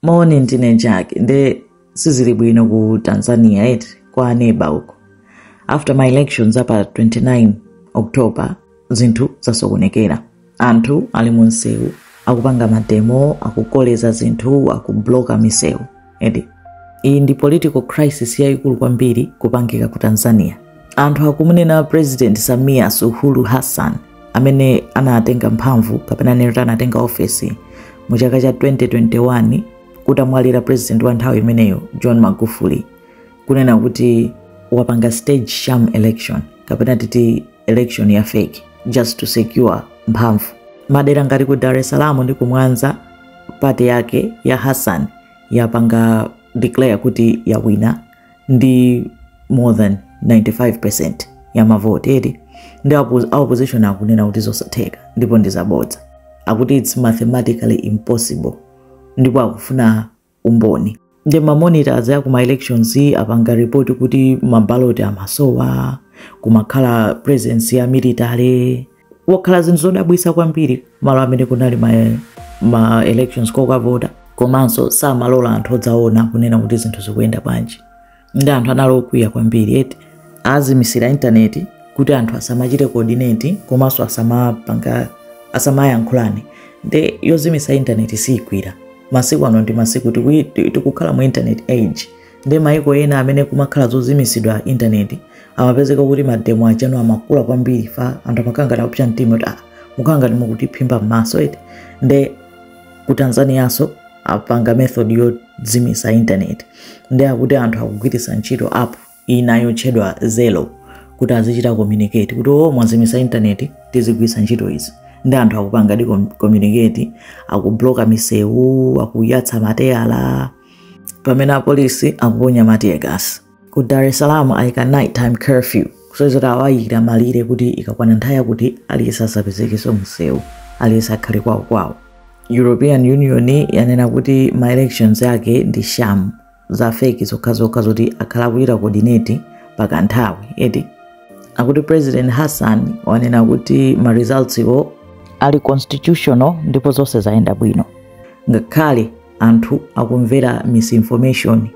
moni ndine njaki nde sizili bwino ku tanzania eti kwa aneba uko after ma elections apa 29 october zinthu zasokonekera anthu ali mu msewu akupanga mademo akukoleza zinthu akubloka misewu akuti iyi ndi political crisis yayikulu kwambiri kupangika ku tanzania anthu akumunena president samia suluhu hassan amene anatenga mphamvu kapena tinene kuti anatenga ofesi mu chaka cha 2021 kutamwalira president wa nthawi imeneyo john magufuli kunena kuti wapanga stage sham election kapena titi election ya fake just to secure mphamvu m'madera ngati ku dar es salaam ndi kumwanza pati yake ya hassan yapanga declare kuti yawina ndi more than 95% ya mavoti eti ndi apo- a opposition akunena kuti zosatheka ndipo ndi zabodza akuti its mathematically impossible ndipo akufuna umboni ndi mamonitors aku ma elections apanga report kuti mabaloti amasowa kumakhala presence ya military kumakhala zinthu zodabwisa kwambiri malo amene kunali ma, ma elections kokavota komanso samalola anthu odzaona kunena kuti zinthu zikuyenda bwanji nde anthu anali okwiya kwambiri eti azimisira intaneti kuti anthu asamachite coordinate komanso asamapanga asamayankhulane nde yozimisa intaneti siyigwira masiku ano ndi masiku tikui- ti- tikukhala mu internet age ndi maiko ena amene kumakhala zozimitsidwa intaneti amapezeka kuti mademo ache anu amakula kwambiri fa anthu amakhala ngati akupsa mtima kuti ah, mukukhala ngati mukutiphimba m'maso eti nde ku tanzanianso apanga method yozimitsa intaneti nde akuti anthu akugwiritsa ntchito app ina yotchedwa zelo kuti azichita communicate kuti o mwazimitsa intaneti tizigwiritsa ntchito izi nde anthu akupanga di com- communicate akubloka misewu akuyatsa mateyala pamene apolisi akuponya matiyegasi ku dar es salaam ayika nighttime curfew kusonyeza kuti awayikira malire kuti ikakwana nthawi yakuti aliyense asapezekenso mumsewu aliyense akhale kwawokwawo european union yanena kuti ma elections yake ndi sham za feki zokhazokha zoti akhala akuchita coordinate kwa kanthawi eti akuti president hassan wanena kuti ma results iwo ali constitutional ndipo zonse zayenda bwino ngakhale anthu akumvera misinformation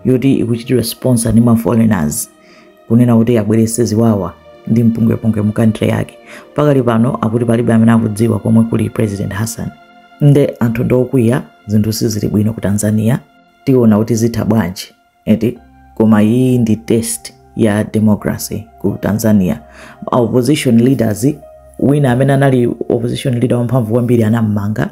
yoti ikuchitidwa sponsor ndi maforeigners kunena kuti abwerese ziwawa ndi mpungwepungwe mu country yake pakali pano akuti palibe amene akudziwa komwe kuli president hassan nde anthu ndokwiya zinthu sizili bwino ku tanzania tiona kuti zitha bwanji eti koma iyi ndi test ya democracy ku tanzania opposition leaders wina amene anali opposition leader wamphamvu kwambiri anammanga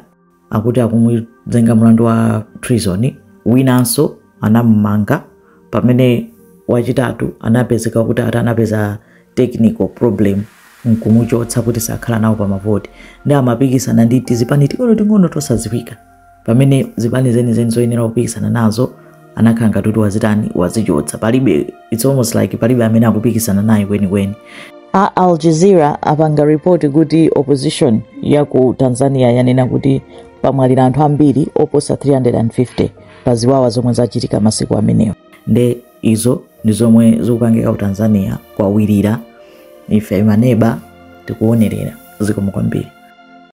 akuti akumuzenga mlandu wa treason winanso anamumanga pamene wachitatu anapezeka kuti ati anapeza technical problem nkumuchotsa kuti sakhala nawo pa mavoti nde amapikisana ndi tizipani ting'ono ting'ono tosadziwika pamene zipani zenizeni zoyenera kupikisana nazo anakhala ngati kuti wazitani wazichotsa palibe its almost like palibe amene akupikisana naye kwenikweni a al jazeera apanga ripoti kuti opposition ya ku tanzania yanena kuti pamwalira anthu ambiri oposa 350 pa ziwawa zomwe zachitika masiku amenewa nde izo ndi zomwe zikupangika ku tanzania kwawilira ife maneba tikuonerera zikomo kwambiri